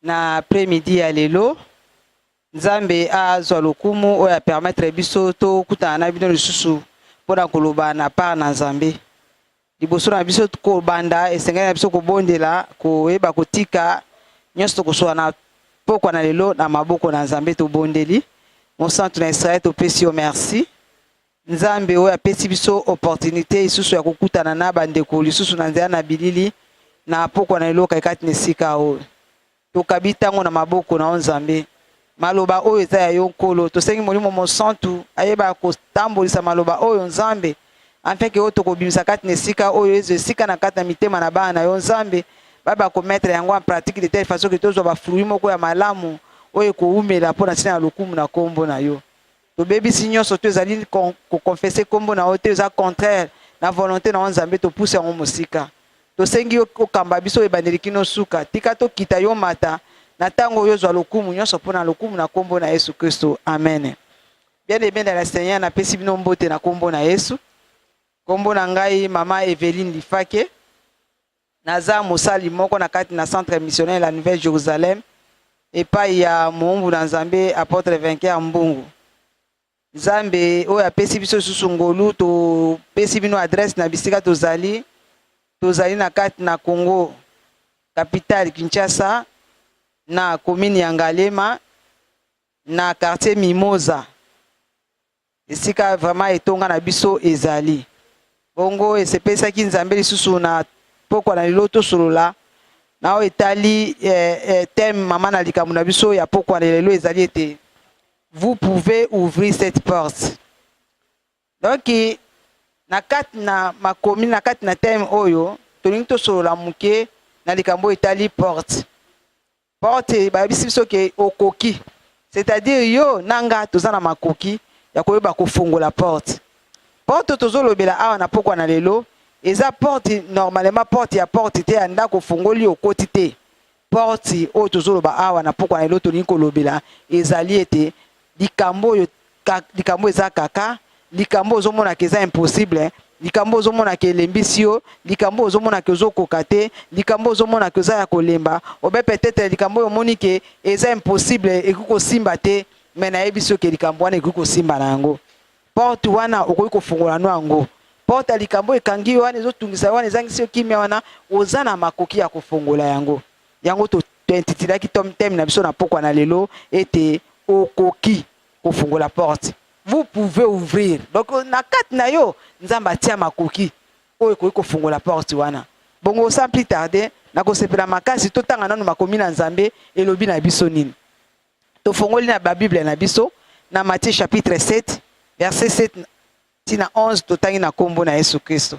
Na après midi ya lelo Nzambe azwa lokumu oyo a permettre biso tokutana na bino lisusu mpo na koloba na part na Nzambe. Liboso na biso kobanda, esengeli na biso kobondela, koyeba kotika nyonso tokosola na pokwa na lelo na maboko na Nzambe. Tobondeli Mosantu na Israel, topesi yo merci. Nzambe oyo apesi biso opportunité isusu ya kokutana na bandeko lisusu na nzela na bilili na pokwa na eloka ekati na esika oyo tokabi ntango na maboko na yo Nzambe. Maloba oyo eza ya yo Nkolo, tosengi Molimo Mosantu ayeba kotambolisa maloba oyo Nzambe, afeke oyo tokobimisa kati na esika oyo ezo esika na kati na mitema na bana na yo Nzambe, bayeba kometre yango en pratique de telle façon ke tozwa bafruit moko ya malamu oyo ekowumela mpo na ntina ya lokumu na nkombo na yo. tobebisi nyonso to ezali kokonfese nkombo na yo te eza contraire na volonté na yo nzambe topuse yango mosika tosengi yo okamba biso ebandeli kino suka tika tokita yo mata na ntango oyo ozwa lokumu nyonso mpo na lokumu na nkombo na yesu kristo amen bien aimé na la seigneur napesi bino mbote na nkombo na yesu nkombo na ngai mama eveline lifake Naza mosali moko na kati na Centre missionnaire la Nouvelle Jerusalem epai ya moumbu na Nzambe Apotre Vainqueur Mbungu. Nzambe oyo apesi biso lisusu ngolu, topesi bino adresse na bisika tozali. Tozali na kati na Congo, capitale Kinshasa, na commune ya Ngalema, na quartier Mimosa. Esika vraiment etonga na biso ezali bongo, esepesaki Nzambe lisusu na pokwa na lelo tosolola nao etali eh, eh, thème mama na likambo na biso ya pokwa na lelo ezali ete vous pouvez ouvrir cette porte. Donc na kati na makomi na kati na thème oyo tolingi tosolola moke na likambo etali porte Porte bayebisi biso ke okoki, c'est-à-dire yo na nga toza na makoki ya koyeba kofongola porte. Porte tozolobela awa na pokwa na lelo eza porte normalement porte ya porte te ya ndako ofongoli okoti te. Porte oyo tozoloba awa na pokwa na lelo tolingi kolobela ezali ete likambo oyo likambo eza kaka likambo ozomonaka eza impossible likambo ozomonaka elembisi yo likambo ozomonaka ozokoka te likambo ozomonaka oza ya kolemba obe peut-être likambo oyo omoni ke eza impossible ekoki kosimba te me nayebisi yo ke likambo wana ekoki kosimba na yango porte wana okoki kofungola no yango porte ya likambo ekangi yo wana ezotungisa yo wana ezangisi yo kimia wana oza na makoki ya kofongola yango Yango to tointitilaki tom thème na biso na pokwa na lelo ete okoki kofungola porte vous pouvez ouvrir donc na kati na yo nzambe atia makoki oyo ekoki kofungola porte wana bongo sans plus tarder nakosepela makasi totanga nano makomi na nzambe elobi na biso nini tofongoli na babible na biso na matthieu chapitre 7 verset 7 ti na 11 totangi na nkombo na yesu kristo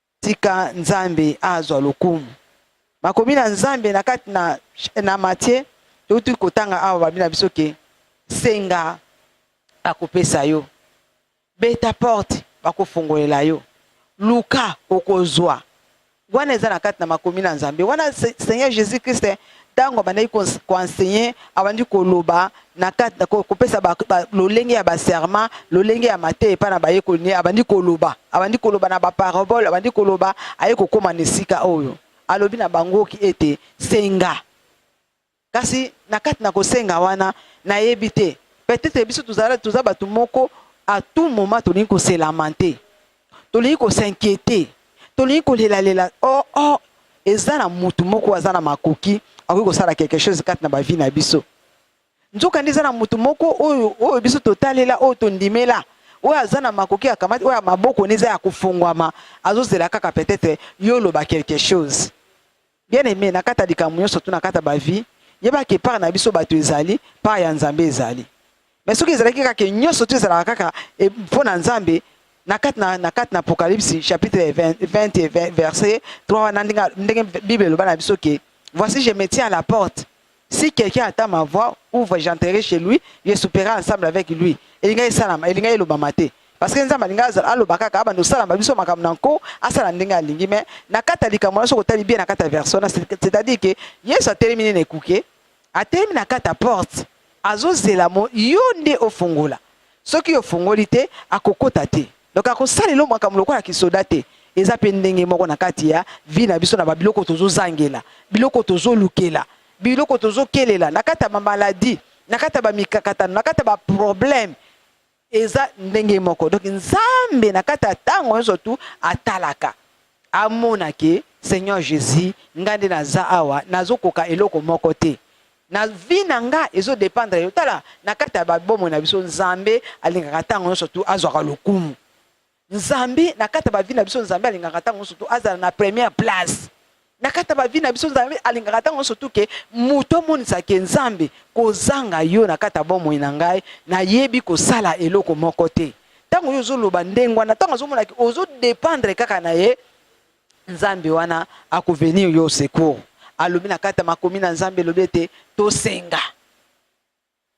Tika Nzambe azwa lokumu. Makomi na Nzambe na kati na, na Matie, touti kotanga awa babi na biso ke senga akopesa yo, beta porte bakofongolela yo, luka okozwa. Wana eza na kati na makomi na Nzambe. Wana Seigneur Jesus Christ ntango abandaki koenseigner abandi koloba na kati kopesa lolenge ya baserment lolenge ya mateya epai na bayekoli ne abandi koloba abandi koloba na baparabole abandi koloba aye kokóma na esika oyo alobi na bangoki ete senga kasi na kati na kosenga wana nayebi te peut-être biso toza bato moko à tout moment tolingi koselamante tolingi ko s'inquiéter tolingi kolelalela oh, oh. eza na mutu moko aza na makoki akoki kosala quelque chose kati na bavi na biso nzoka nde eza na mutu moko oyo oyo biso totalela oyo tondimela oyo aza na makoki akamati oyo maboko ne eza ya kofongwama azozela kaka peut-être yo oloba quelque chose Bien aime, na kata likambo nyonso to na kata ba vie, yeba ke part na biso bato ezali, part ya Nzambe ezali. Mais soki ezalaki kaka ke nyonso to ezalaka kaka e, mpo na Nzambe, na kati na, na, kati na Apocalypse chapitre 20, 20 et 20, verset 3 wana ndenge, ndenge Bible eloba na biso ke voici je me tiens à la porte Si quelqu'un attend ma voix, ouvre, j'entrerai chez lui, je souperai ensemble avec lui. Elinga esalama, elinga elobama te. Parce que Nzambe alinga aloba kaka abanda osalama biso makambo na nko, asala ndenge alingi mais na kati ya likambo wana soki otali bien na kati ya version wana c'est-à-dire que Yesu atelemi nini ekuke, atelemi na kati ya porte, azozela mo yo nde ofungola. soki yo ofongoli te akokota te donc akosala elo makambo lokola kisoda te eza mpe ndenge moko na kati ya vie na biso na babiloko tozozangela biloko tozolukela biloko tozokelela na kati ya bamaladi na kati ya bamikakatano na kati ya baproblème eza ndenge moko donc nzambe na kati ya ntango nyonso tu atalaka amona ke seigneur jésus ngai nde naza awa nazokoka eloko moko te na vie na nga ezo dependre yo tala na kati ya babomo na biso nzambe alingaka ntango nyonso tu azwaka lokumu nzambe na kati ya bavi na biso nzambe alingaka ntango nyonso tu azala na première place na kati ya bavi na biso nzambe alingaka ntango nyonso tu ke moto amonisake nzambe kozanga yo na kati ya bomoi na ngai nayebi kosala eloko moko te ntango yo ozoloba ndenge wana ntango azomonaki ozodependre kaka na ye Nzambe wana ako venir yo au secours. Alobi na kati ya makomi na Nzambe elobi ete tosenga.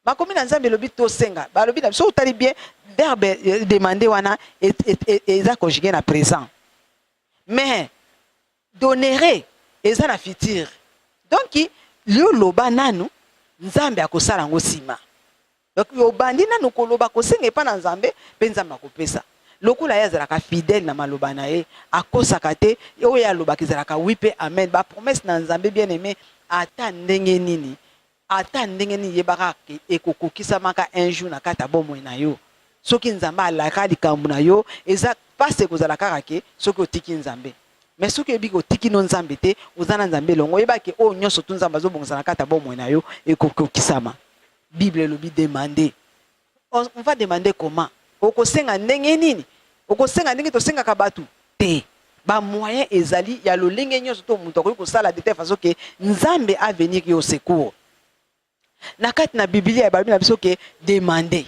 Makomi na Nzambe elobi tosenga. Balobi na biso otali bien verbe euh, demander wana eza conjugué na présent. Mais donere eza na futur. Donc yo loba nanu Nzambe akosala yango sima. Donc obandi nanu koloba kosenga epa na Nzambe pe Nzambe akopesa. Lokola ye azalaka fidèle na maloba na ye, akosaka te, oyo ye alobaka ezalaka oui pe amen. Ba promesses na Nzambe bien aime ata ndenge nini, ata ndenge nini yeba kaka ke ekokokisamaka un jour na kati ya bomoi na yo. Soki Nzambe alaka likambo na yo, eza pasi ekozala kaka ke soki otiki Nzambe. Mais soki oyebi ke otiki no Nzambe te, oza na Nzambe elongo, yeba ke oyo nionso tout Nzambe azobongisa na kati ya bomoi na yo ekokokisama. Bible elobi demande. On va demander comment? Okosenga ndenge nini? Okosenga ndenge tosengaka bato? Te. Ba moyen ezali ya lolenge nyonso to moto akoki kosala de telle façon que Nzambe a venir yo secours. Na kati na Biblia ebalobi na biso que demander.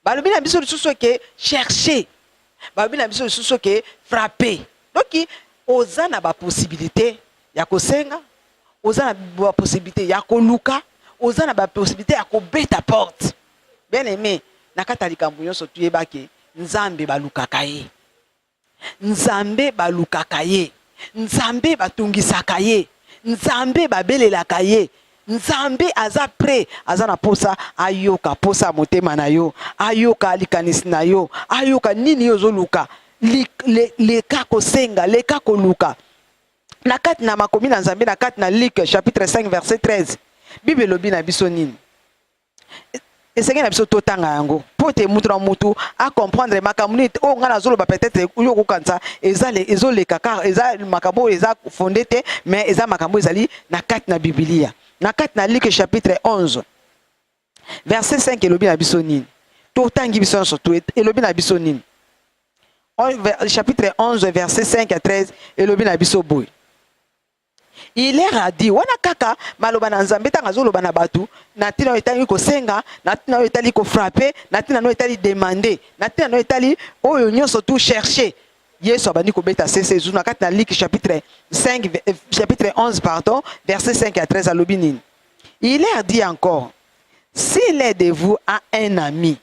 balobi na biso lisusu ke chercher balobi na biso lisusu ke frapper donc oza na baposibilité ya kosenga oza na baposibilité ya koluka oza na baposibilité ya kobeta porte bien aime na kati ya likambo nyonso tuyebake nzambe balukaka ye Nzambe balukaka ye. Nzambe batungisaka ye. Nzambe babelelaka ye. Nzambe aza pret, aza na posa ayoka posa ya motema na yo, ayoka likanisi na yo, ayoka nini yo ozoluka. Leka kosenga, leka koluka. Na kati na makomi na Nzambe, na kati na Luc chapitre 5 verset 13, Bible elobi na biso nini? esengeli na biso totanga yango mpo te moto na moto acomprendre makambo nini oyo ngai nazoloba peut-être yo okokanisa eza ezoleka kar eza makambo oyo eza fonde te mais eza makambo ezali na kati na bibilia na kati na luke chapitre 11 verset 5 elobi na biso nini totangi biso nyonso to elobi na biso nini chapitre 11 verset 5 à 13 elobi na biso boye Il leur a dit, wana kaka maloba na Nzambe ntango azoloba na bato na ntina oyo etali kosenga, na ntina oyo etali kofrape, na ntina oyo etali demande, na ntina oyo etali oyo nyonso tu cherche. Yesu abandi kobeta sese zuna kati na Liki chapitre 5, eh, chapitre 11 pardon, verset 5 à 13 alobi nini? Il leur dit encore, si l'un de vous a un ami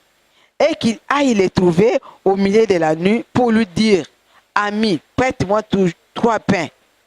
et qu'il aille le trouver au milieu de la nuit pour lui dire, ami, prête-moi trois pains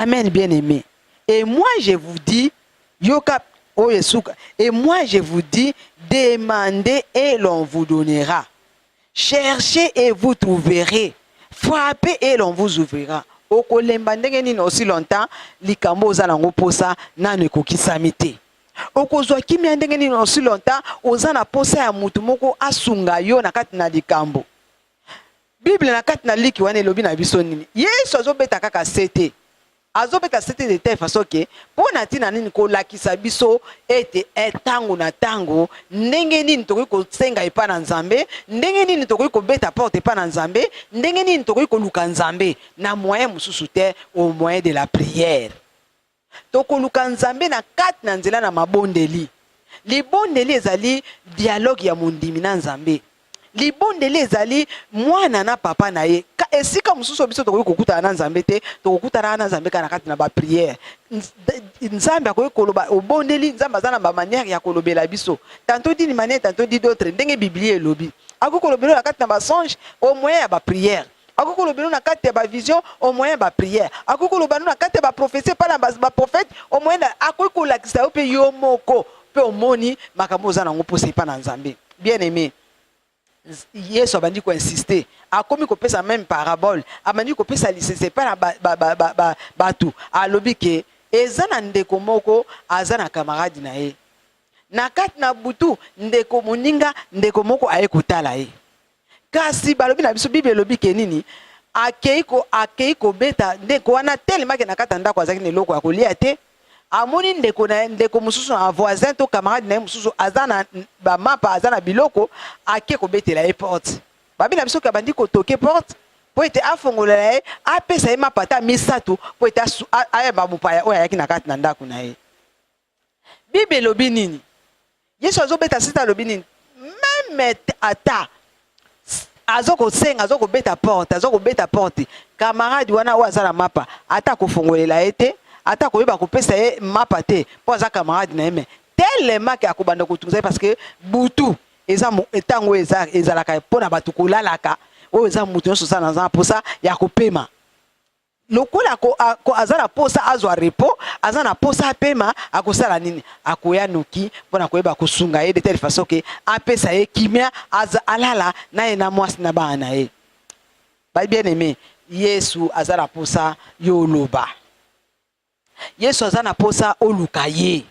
Amen bien aime et moi je vous dis yoka oyo esuka et moi je vous dis demandez et l'on vous donnera cherchez et vous trouverez frappez et l'on vous ouvrira okolemba ndenge nini aussi longtemps likambo oza nango posa nanu ekokisami te okozwa kimia ndenge nini aussi longtemps oza na posa ya mutu moko asunga yo na kati na likambo bible na kati na liki wana elobi na biso nini yesu azobeta kaka se te azobeta se te de telle façon ke mpo na ntina nini kolakisa biso ete ntango eh, na ntango ndenge nini tokoki kosenga epai na nzambe ndenge nini tokoki kobeta porte epai na nzambe ndenge nini tokoki koluka nzambe na moyen mosusu te au moyen de la prière Tokoluka Nzambe na kati na nzela na mabondeli. Libondeli ezali dialogue ya mondimi na Nzambe. Libondeli ezali mwana na papa na ye. Ka esika mosusu biso tokoki kokutana na Nzambe te, tokokutana na Nzambe kaka na kati na ba prière. Nzambe akoki koloba obondeli, Nzambe aza na ba manière ya kolobela biso. Tantôt d'une manière, tantôt d'une autre, ndenge Biblia elobi. Akoki kolobela na kati na ba songe au moyen ya ba prière. akoki koloba no na kati ya bavision au moyen ya baprière akoki koloba no na kati ya baprofesi epai na baprofete au moyen akoki kolakisa yo mpe yo moko mpe omoni makambo oza na yango mposa epai na nzambe bien aimé yesu abandi koinsiste akomi kopesa meme parabole abandi kopesa lisese epai na bato ba, ba, ba, ba, ba, alobi ke eza na ndeko moko aza na kamarade na ye na kati na butu ndeko moninga ndeko moko aye kotala ye Kasi balobi na biso Bible elobi ke nini? Akei ko akei kobeta ndeko wana telema ke na kati ya ndako azalaki na eloko ya kolia te. Amoni ndeko na ye ndeko mosusu na voisin to camarade na ye mosusu aza na ba mapa aza na biloko ake kobetela ye porte. Babi na biso ke abandi kotoke porte mpo ete afongolela ye apesa ye mapa ata misato mpo ete ayamba mopaya oyo ayaki na kati na ndako na ye. Bible elobi nini? Yesu azobeta sita alobi nini? Meme ata azo kosenga azo kobeta porte azo kobeta porte camarade wana oyo aza na mapa ata kofongolela ye te ata koyeba kopesa ye mapa te mpo aza camarade na ye me telema ke akobanda kotunza ye parce que butu eza ntango oyo ezalaka mpo na bato kolalaka oyo eza moto nyonso oza naza na mposa ya kopema lokola ko, a, ko, aza na posa azwa repo, aza na posa apema, akosala nini? Akoya noki mpo na koyeba kosunga ye de telle façon ke apesa ye kimia, aza alala na ye na mwasi na bana na ye. Ba bien aime, Yesu aza na posa yo oloba. Yesu aza na posa oluka ye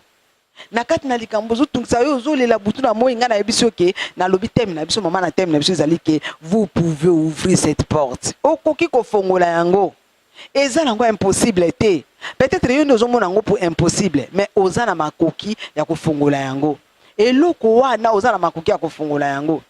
na kati na likambo ozotungisa yo ozolela butu na moi ngai nayebi biso ke nalobi teme na biso mama na teme na biso ezali ke vous pouvez ouvrir cette porte okoki kofongola yango eza nango impossible te peut-être yo nde ozomona yango po impossible mais oza na makoki ya kofongola yango eloko wana oza na makoki ya kofongola yango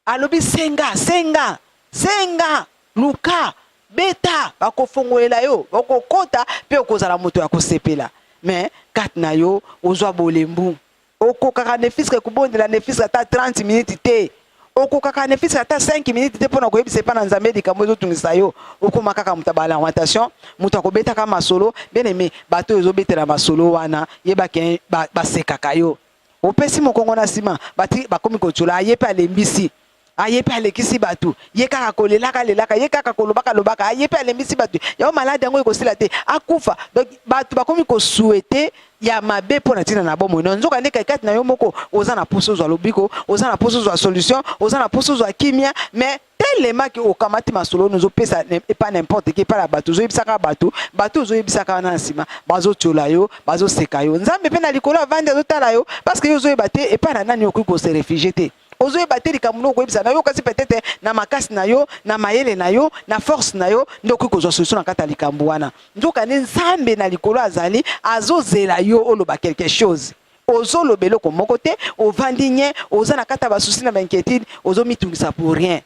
Alobi senga, senga, senga, luka, beta, bakofongolela yo, okokota pe okozala moto ya kosepela. Me kati na yo ozwa bolembu. Okokaka nefiske kobondela nefiske ata 30 minutes te. Okokaka nefiske ata 5 minutes te pona koyebisa epa na Nzambe likambo ezotungisa yo. Okoma kaka moto ya ba lamentation, moto akobetaka masolo. Bien aime, bato oyo ozobetela masolo wana, yeba ke basekaka yo. opesi mokongo na nsima bati bakomi kotshola aye mpe alembisi aye mpe alekisi bato ye kaka kolelaka lelaka ye kaka kolobaka lobaka aye mpe alembisi bato yango maladi yango ekosila te akufa donc bato bakomi kosuete ya mabe mpo na ntina na bomoi na nzoka nde kaikati na yo moko oza na mposa ozwa lobiko oza na mposa ozwa solution oza na mposa ozwa kimia mais telema ke okamati masolo wana ozopesa epa n'importe qui epa na bato ozoyebisaka bato bato ozoyebisaka wana na nsima bazotyola yo bazoseka yo nzambe mpe na likolo avandi azotala yo parce que yo ozoyeba te epa na nani okoki kose refugie te ozoyeba te likambo noko koyebisa na yo kasi peut-être na makasi na yo na mayele na yo na force na yo nde okoki kozwa solution na kati ya likambo wana nzokande nzambe na likolo azali azozela yo oloba quelque chose ozoloba eloko moko te ovandi nye oza na kati ya basusi na bainquiétude ozomitungisa pour rien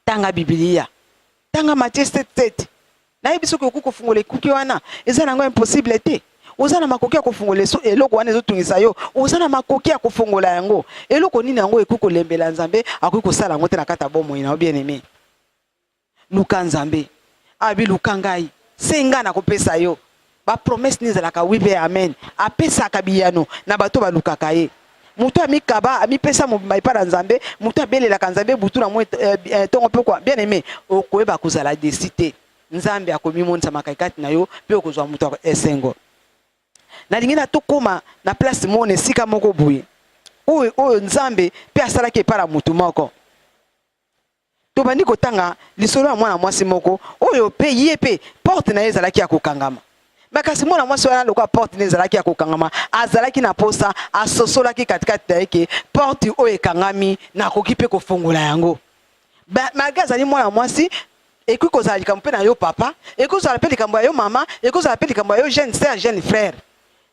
tanga bibilia tanga matie 77 nayebi soki okoki kofungola ekuki wana eza na yango impossible te oza na makoki ya kofungola eloko wana ezotungisa yo oza na makoki ya kofungola yango eloko nini yango ekoki kolembela nzambe akoki kosala yango te na kati ya bomoi na yo bien aime Luka Nzambe. Abi luka ngai. Senga na kopesa yo. Ba promesse ni zalaka oui pe amen. Apesaka biyano na bato balukaka ye. Moto amikaba, amipesa mobimba epa na Nzambe, moto abelelaka Nzambe butu na moi eh, eh, tongo pe kwa. Bien aime, okoyeba kozala desi te. Nzambe akomimonisa makai kati na yo pe okozwa moto ya esengo. Nalingi na tokoma na place moko na esika moko boye oyo oyo Nzambe pe asalaki epa na moto moko. Tobandi kotanga lisolo ya mwana mwasi moko oyo mpe ye mpe porte na ye ezalaki ya kokangama. Me kasi mwana mwasi wana lokola porte na ezalaki ya kokangama, azalaki na mposa, asosolaki katikati na ye ke porte oyo ekangami nakoki mpe kofongola yango. Malgre azali mwana mwasi, ekoki kozala likambo mpe na yo papa, ekoki kozala mpe likambo ya yo mama, ekoki kozala mpe likambo ya yo jeune sœur, jeune frère.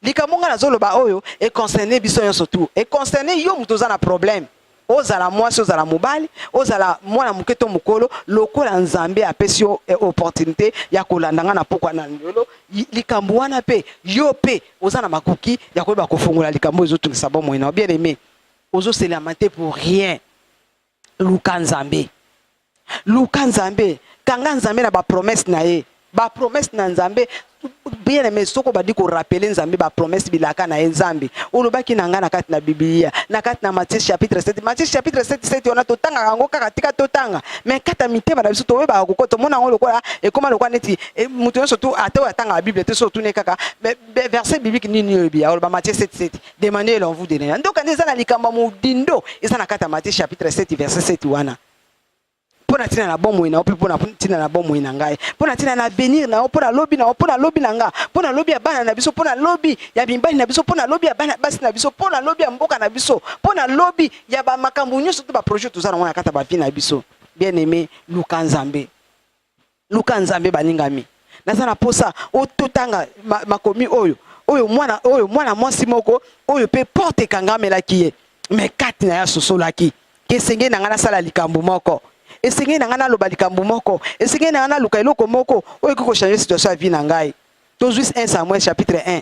likambo ngai nazoloba oyo econcerne biso nyonso tu econcerne yo moto oza na problème ozala mwasi ozala mobali ozala mwana moke to mokolo lokola nzambe apesi yo eh, opportunité ya kolanda ngai na pokwa na ndolo likambo wana mpe yo mpe oza na makoki ya koyeba kofongola likambo ezotungisa bomoi na yo bien aimé ozoselama te pour rien Luka Nzambe. Luka Nzambe. Kanga Nzambe na bapromese na ye. Bapromese na Nzambe bien aime soko obandi korapele nzambe bapromese bilaka na ye nzambe olobaki na ngai na kati na biblia na kati na matie chapitre 7 matie chapitre 77 wana totangaka yango kaka tika totanga mai kati ya mitema na biso toyebaka koko tomona yango lokola ekoma lokola neti e, moto nyonso tu ata oyo atangaka biblia te so otuni kaka verset biblique nini oyebi aoloba matie 77 Demandez leur vous donner. Donc quand eza na likamba modindo, eza na kata Matthieu chapitre 7 verset 7 wana. Pona tina na bomoi na ope pona tina na bomoi na ngai. Pona tina na avenir na pona lobi na pona lobi na nga. Pona lobi ya bana na biso, pona lobi ya bimbani na biso, pona lobi ya bana basi na biso, pona lobi ya mboka na biso, pona lobi ya ba makambo nyonso to ba projet tozana wana kata ba vie na biso. Bien-aimé, luka Nzambe. luka nzambe baningami naza na posa ototanga makomi oyo oyo mwana oyo mwana mwasi moko oyo mpe porte ekangamelaki ye me kati na ye asosolaki esengeli na ngai nasala likambo moko esengeli na ngai naloba likambo moko esengeli na ngai naluka eloko moko oyo ekoki kochange situation ya vie na ngai tozwi 1 samuel chapitre 1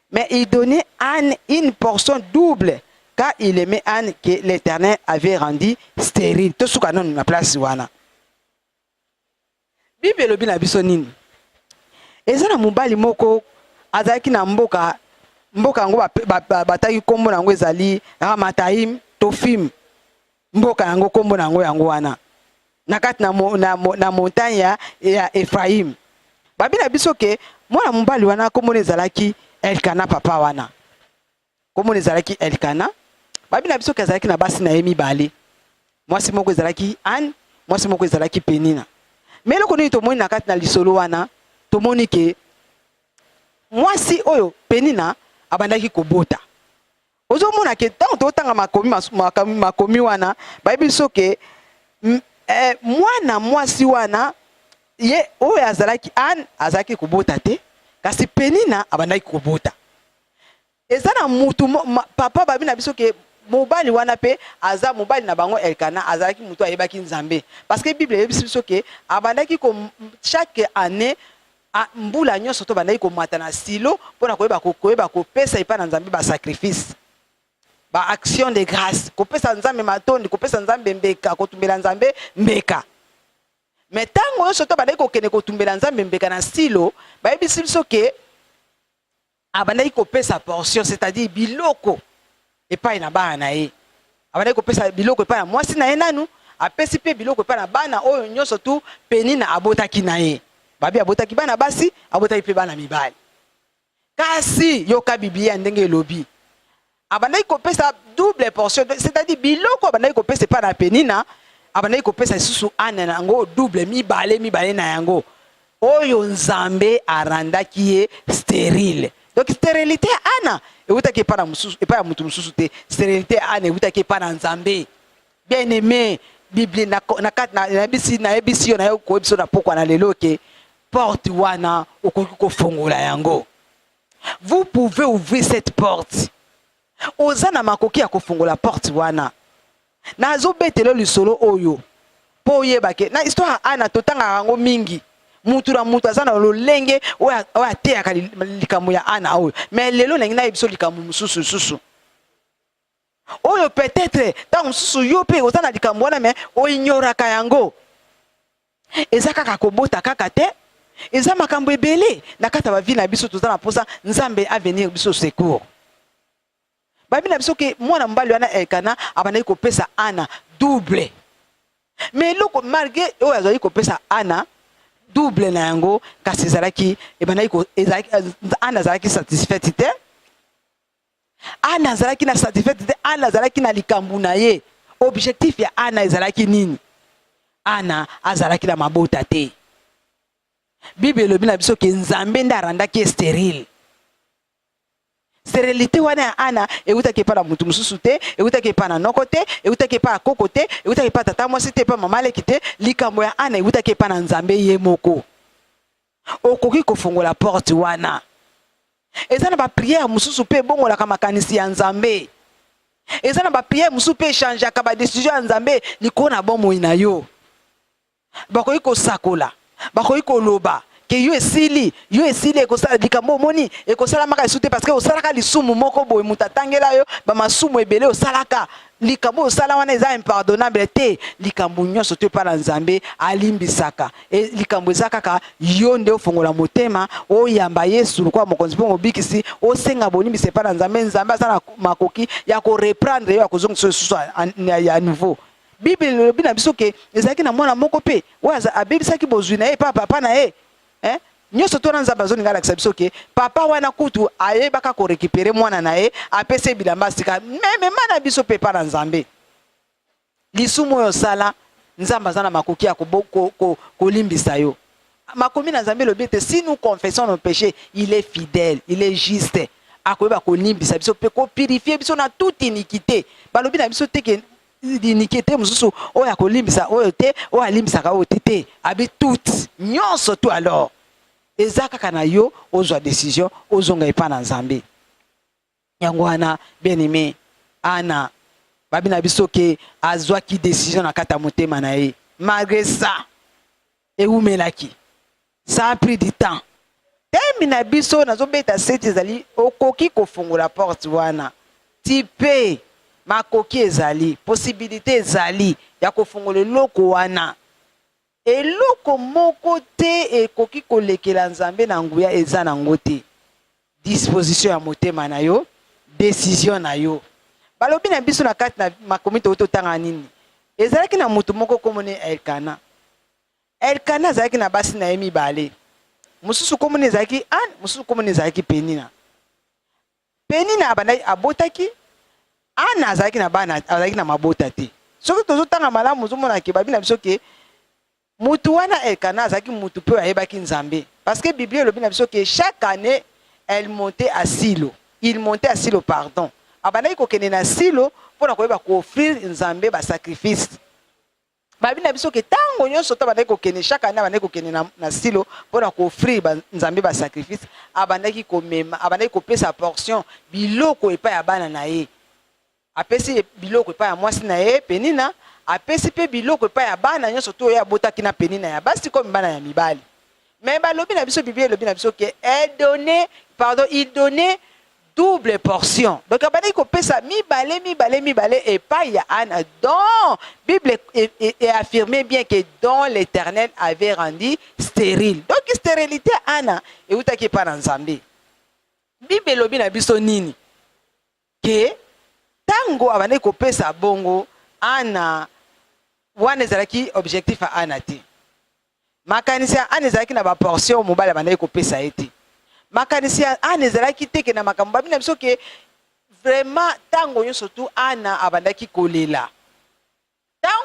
Mais il donnait Anne une portion double car il aimait Anne que l'Éternel avait rendu stérile. Tout ce qu'on a na place wana. Bible elobi na biso nini? Eza na mobali moko azalaki na mboka mboka yango bataki nkombo na yango ezali Ramataim Tofim. Mboka yango kombo na yango yango wana na kati na, mo, na, mo, na montagne ya, ya Ephraim. Babi na biso ke mwana mobali wana kombo ezalaki Elkana papa wana. Kombo ezalaki Elkana. Babi na biso ke azalaki na basi na ye mibale. Mwasi moko ezalaki Anne, mwasi moko ezalaki Penina. Mais eloko nini tomoni na kati na lisolo wana? Tomoni ke mwasi oyo Penina abandaki kobota. ozomona ke ntango totanga makomi makomi makomi wana bayebi biso ke eh, mwana mwasi wana ye oyo azalaki ane azalaki kobota te kasi penina abandaki kobota eza na mutu ma, papa babi na biso ke mobali wana mpe aza mobali na bango elkana azalaki motu ayebaki nzambe parce que bible eyebisi biso ke abandaki ko chaque année A Mbula nyonso tobandaki komata na Silo mpo na koyeba koyeba kopesa epai na Nzambe ba sacrifice ba action de grace, kopesa Nzambe matondi, kopesa Nzambe mbeka, kotumbela Nzambe mbeka. Me ntango nyonso tobandaki kokende kotumbela Nzambe mbeka na Silo, bayebisi biso ke abandaki kopesa portion c'est-à-dire biloko epai na bana na ye abandaki kopesa biloko epai na mwasi na ye nanu apesi mpe biloko epai na bana oyo nyonso tu penina abotaki na ye babi abotaki bana basi abotaki mpe bana mibali kasi yoka biblia ndenge elobi abandaki kopesa double portion c'est-à-dire biloko abandaki kopesa epai na penina abandaki kopesa lisusu ane na yango double mibale mibale na yango oyo nzambe arandaki ye sterile donc sterilité ya ana ewutaki epai na mosusu epai ya moto mosusu te sterilité ya ana ewutaki epai na nzambe bien aimé biblia nayebisi na, na, na, yo naye koyebisa na pokwa na lelo ke porte wana okoki kofongola yango vous pouvez ouvrir cette porte oza na makoki ya kofungola porte wana nazobetelo lisolo oyo mpo oyeba ke na histoire ya ana totangaka yango mingi mutu na mutu aza na lolenge oyo ateyaka likambo ya ana oyo me lelo nangi nayebi biso likambo mosusu lisusu oyo peut-etre ntango mosusu yo mpe oza na likambo wana me oinyoraka yango eza kaka kobota kaka te eza makambo ebele na kati ya bavi na biso toza na mposa nzambe avenir biso secours babi na biso ke mwana mobali wana elkana abandaki kopesa ana double me eloko malgre oyo azalaki kopesa ana double na yango kasi ezalaki ebandaki ana azalaki satisfaite te Ana azalaki na satisfaite te, Ana azalaki na likambo na ye. Objectif ya Ana ezalaki nini? Ana azalaki na mabota te. Bible elobi na biso ke Nzambe nde arandaki ye sterile. Sterilite wana ya Ana eutaki epai na moto mosusu te, eutaki epai na noko te, eutaki epai ya koko te, eutaki epai tata mwasi te, epai mama leki te. Likambo ya Ana eutaki epai na Nzambe ye moko. okoki kofongola porte wana. Eza na ba prière mosusu pe ebongolaka makanisi ya Nzambe. Eza na ba prière mosusu pe echangeaka ba decision ya Nzambe likolo na bomoi na yo. Bakoki kosakola, bakoki koloba ke yo esili, yo esili ekosala likambo omoni ekosalamaka lisusu te parce que osalaka lisumu moko boye moto atangela yo ba masumu ebele osalaka likambo osala wana eza impardonnable te likambo nyonso to epai na nzambe alimbisaka e, likambo eza kaka yo nde ofongola motema oyamba yesu lokola mokonzi mpe mobikisi osenga bolimbisi epai na nzambe nzambe aza na makoki ya koreprendre yo ya kozongisa lisusu ya nouveau biblia elobi na biso ke ezalaki na mwana moko mpe oyo abebisaki bozwi na ye epai papa na ye eh? nyonso tona nzambe azolinga alakisa biso ke papa wana kutu ayebaka korekipere mwana na ye apesa ye bilamba asika memema na biso mpe epa na nzambe lisumu oyo osala nzambe aza na makoki ya kolimbisa ko, ko, yo makomi na nzambe elobi ete si nous confessons nos péchés il est fidèle il est juste akoyeba kolimbisa biso mpe kopurifie biso na toute iniquité balobi na biso te ke Dinike te mosusu oyo akolimbisa oyo te oyo alimbisaka oyo te te abi tout nyonso tu alors eza kaka na yo ozwa decision ozonga epa na nzambe yango wana bien aime ana babi na biso ke azwaki decision na kati ya motema na ye malgre ça ewumelaki ça a pris du temps teme na biso nazobeta seti ezali okoki kofongola porte wana tipe makoki ezali posibilite ezali ya kofongola eloko wana eloko moko te ekoki kolekela nzambe na nguya eza na yango te disposition ya motema na yo decision na yo balobi na biso na kati na makomi toyei totanga nini ezalaki na moto moko nkombo ne elkana elkana azalaki na basi na ye mibale mosusu nkombo ne ezalaki ane mosusu nkombo ne ezalaki penina penina abandaki abotaki ane azalaki na bana azalaki na mabota te soki tozotanga malamu ozomonake babi na biso ke Mutu wana Elkana azalaki mutu pe oyo ayebaki Nzambe parce que Biblia elobi na biso que chaque annee elle montait à Silo, il montait à Silo pardon, abandaki kokende na Silo pona koyeba ko offrir Nzambe ba sacrifices. Balobi na biso que tango nyonso to abandaki kokende chaque annee abandaki kokende na, na Silo pona ko offrir ba Nzambe ba sacrifices, abandaki komema, abandaki kopesa portion biloko epai ya bana na ye. Apesi biloko epai ya mwasi na ye Penina, apesi mpe biloko epai ya bana nyonso to oyo abotaki na Penina ya basi comme bana ya mibali. Mais balobi na biso Biblia elobi na biso que elle donnait pardon il donnait double portion. Donc abandaki kopesa mibale mibale mibale epai ya Anna dont Bible e, e, e affirme bien que dont l'Éternel avait rendu stérile. Donc stérilité Anna eutaki epai na Nzambe. Bible elobi na biso nini? Ke tango abandaki kopesa bongo Anna, wana ezalaki objectif ya Anna te. Makanisi ya Anna ezalaki na ba portion mobali abandaki kopesa ye te. Makanisi ya Anna ezalaki te ke na makambo babi na biso ke vraiment tango nyonso tu Anna abandaki kolela.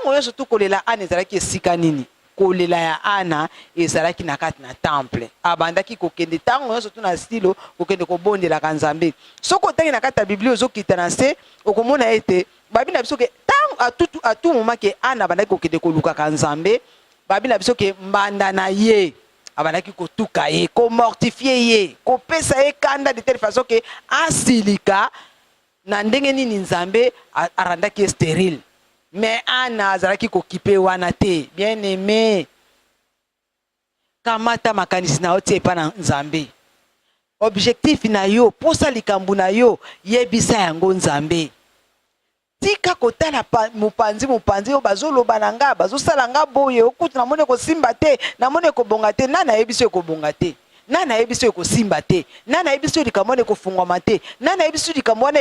Ntango nyonso tu kolela Ana ezalaki esika nini? Kolela ya Ana ezalaki na kati na temple. Abandaki kokende ntango nyonso tu na Silo, kokende kobondelaka Nzambe. Soki otangi na kati ya Biblia, ozokita na nse, okomona ete babi na biso ke ntango a tout, à tout moment ke Ana abandaki kokende kolukaka Nzambe, babi na biso ke mbanda na ye abandaki kotuka ye, komortifier ye, kopesa ye kanda de telle façon ke asilika. Na ndenge nini Nzambe arandaki ye sterile? Mais Anna azalaki kokipe wana te. Bien aime, kamata makanisi na yo tia epa na Nzambe. Objectif na yo, posa likambo na yo, yebisa yango Nzambe. tika kotala mopanzi mopanzi oyo bazoloba na nga bazosala nga boye okutu namoni ekosimba te namoni ekobonga te nani ayebisi ekobonga te nani ayebi soki ekosimba te nani ayebi soki likambo wana ekofungwama te nani ayebi soki likambo wana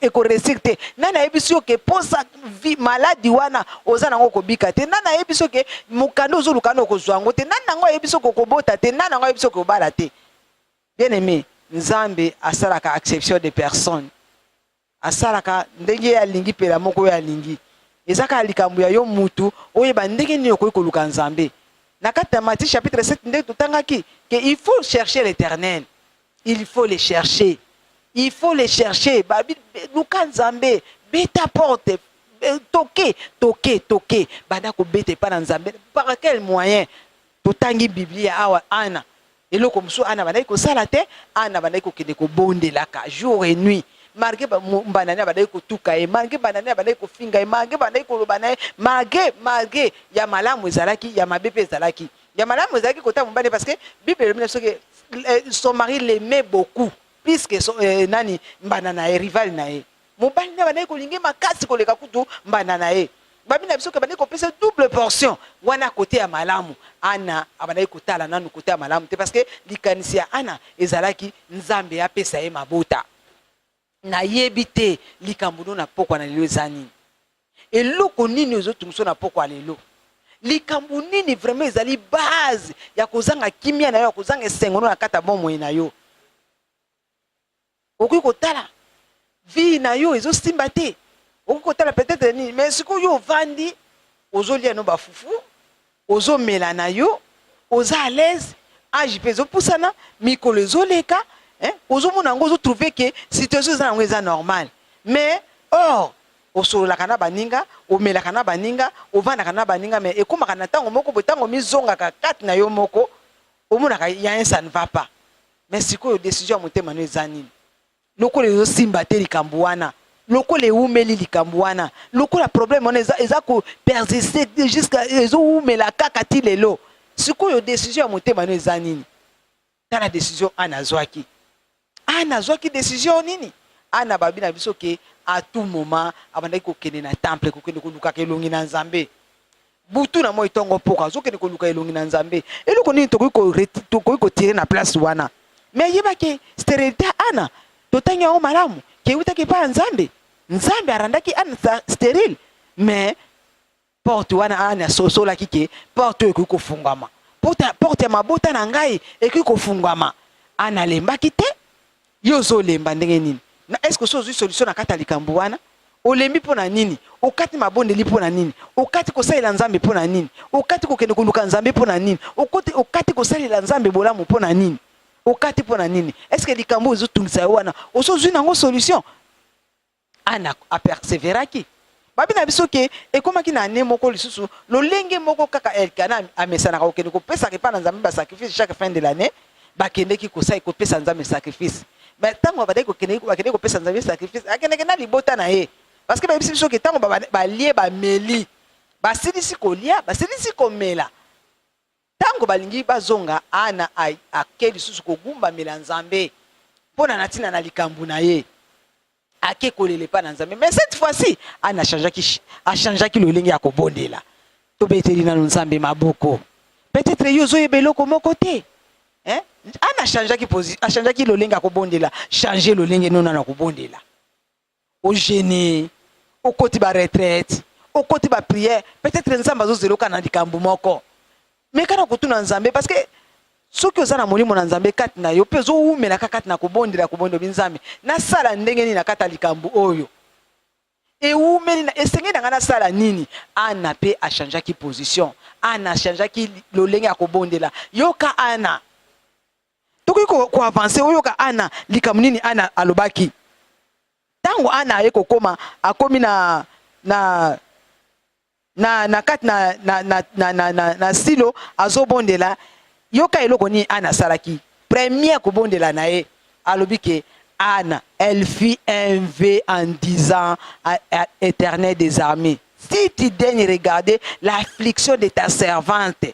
ekoresir te nani ayebi soki oke mposa maladi wana oza nango okobika te nani ayebi soki mokanda ozoluka wana okozwa yango te nani nango ayebi soki okobota te nani yango ayebi soki obala te bien aime nzambe asalaka exception de personne Asalaka ndenge ye alingi pelamoko oyo alingi. Eza kaka likambo ya yo mutu oyeba ndenge nini okoki koluka Nzambe. Na kati na Matthieu chapitre 7 nde totangaki que il faut chercher l'Eternel. Il faut le chercher. Il faut le chercher. Ba luka Nzambe, beta porte, toke, toke, toke. Banda kobeta epa na Nzambe. Par quel moyen? Totangi Biblia awa Ana eloko mosusu Ana abandaki kosala te. Ana abandaki kokende kobondelaka jour et nuit malgré banani abandaki kotuka ye, malgré banani abandaki kofinga ye, malgré bandaki koloba na ye, malgré malgré ya malamu ezalaki, ya mabe mpe ezalaki. Ya malamu ezalaki kotanga mobali parce que Bible elobi na biso ke eh, son mari l'aimait beaucoup plus que son, eh, nani mbanda na ye, rival na ye mobali naye abandaki kolinga ye makasi koleka kutu mbanda na ye babi na biso ke abandaki kopesa double portion wana kote ya malamu ana abandaki kotala nanu kote ya malamu te parce que likanisi ya ana ezalaki nzambe apesa ye mabota nayebi te likambo no na pokwa na lelo eza nini eloko nini ozotungiso na pokwa lelo likambo nini vraiment ezali base ya kozanga kimia na yo ya kozanga esengo no na kati ya bomoi na yo Okoki kotala vie na yo ezo simba te, okoki kotala peut-être nini, mais sikoyo yo ovandi ozolia no ba fufu, ozomela na yo, oza à l'aise, age mpe ezopusana, mikolo ezoleka, hein, ozomona yango, ozo trouver que situation eza na yango eza normal, mais or osololaka na baninga, omelaka na baninga, ovandaka na baninga, mais ekomaka na ntango moko boye, ntango omizongaka kati na yo moko, omonaka il y a un ça ne va pas. mais sikoyo decision ya motema no eza nini lokola ezosimba te likambo wana lokola ewumeli likambo wana lokola problème wana eza, eza ko persiste jusqu'à ezowumela kaka ti lelo sikoyo decision ya motema no eza nini tala decision ana azwaki ana azwaki decision nini ana babi na biso ke à tout moment abandaki kokende na temple kokende kolukaka elongi na nzambe butu na moi ntongo mpoko azokende koluka elongi na nzambe eloko nini tokoki kotire na place wana me ayebaki sterilite ya ana totangi yango malamu ke eutaki epai ya nzambe nzambe arandaki ana sterile me porte wana ana asosolaki ke porte oyo ekoki kofungwama porte ya mabota na ngai ekoki kofungwama ana alembaki te Yo ozo lemba ndenge nini? Na est-ce que osi ozui solution na kati ya likambo wana? Olembi mpo na nini? Okati mabondeli mpo na nini? Okati kosalela Nzambe mpo na nini? Okati kokende koluka Nzambe mpo na nini? Okoti, okati kosalela Nzambe bolamu mpo na nini? Okati mpo na nini? Est-ce que likambo oyo ezotungisa yo wana osi ozui na yango solution? Anna a perseveraki. Babi na biso ke ekomaki na annee moko lisusu lolenge moko kaka Elkana amesanaka kokende kopesaka epai na Nzambe ba sacrifice chaque fin de l'annee, bakendeki kosali kopesa Nzambe sacrifice. Mais tango abandaki kokendeki bakendeki kopesa Nzambe sacrifice, akendeke na libota na ye parce que bayebisi biso ke tango balie bameli basilisi kolia basilisi komela, Ntango balingi bazonga, Hana akei lisusu kogumbamela Nzambe mpo na na ntina na likambo na ye. Akei kolela epai na Nzambe, mais cette fois-ci Hana achangeaki achangeaki lolenge ya kobondela. Tobeteli nano Nzambe maboko. Peut-être yo ozoyeba eloko moko te. Hein? Hana achangeaki achangeaki lolenge ya kobondela. Change lolenge nona na kobondela. o jeune okoti ba retraite okoti ba prière peut-être nzambe azozela oka na likambo moko meka na kotuna nzambe parce que soki oza na molimo na nzambe kati na yo mpe ozowumelaka kati na kobondela kobondela obi nzambe nasala ndenge nini na kati ya likambo oyo ewumeli na esengeli na ngai nasala nini ana mpe achangeaki position ana achangeaki lolenge ya kobondela yoka ana tokoki koavanse ko oyoka ana likambo nini ana alobaki ntango ana aye kokoma akomi na na na na kati na, na, na, na, na, na, na silo azobondela yoka eloko nini ana asalaki premier kobondela na ye alobi ke ana elle fit un v en disant à, à éternel des armées si tu daigne regarder l'affliction de ta servante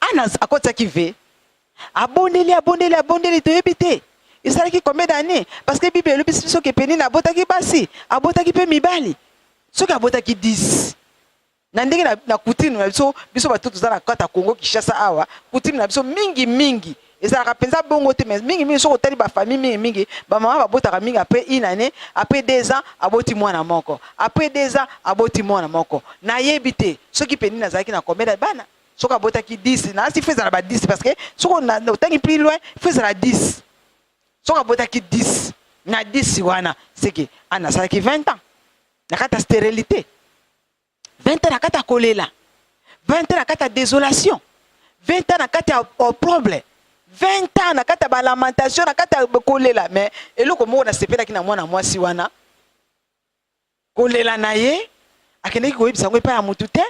ana akotisaki ve abondeli abondeli abondeli toyebi te esalaki combien d'année parce que bible elobisi biso ke penina abotaki basi abotaki mpe mibali soki abotaki 10 na ndenge na, na kutime na biso biso bato toza na kata congo kinshasa awa kutime na biso mingi mingi ezalaka mpenza bongo te mais mingi mingi soki otali bafamille mingi mingi bamama babotaka mingi après une année après deux ans aboti mwana moko après deux ans aboti mwana moko nayebi te soki mpe nini azalaki na komela bana soki abotaki 10 na asi fo ezala ba 10 parce que soki otangi plus loin fo ezala 10 soki abotaki 10 na 10 wana seke ana asalaki 20 ans na kati ya sterilité 20 ans na kati ya kolela 20 ans na kati ya desolation 20 ans na kati ya opproble 20 ans na kati ya balamentation na kati ya kolela mais eloko moko nasepelaki na mwana mwasi wana kolela na ye akendeki koyebisa yango epai ya motu te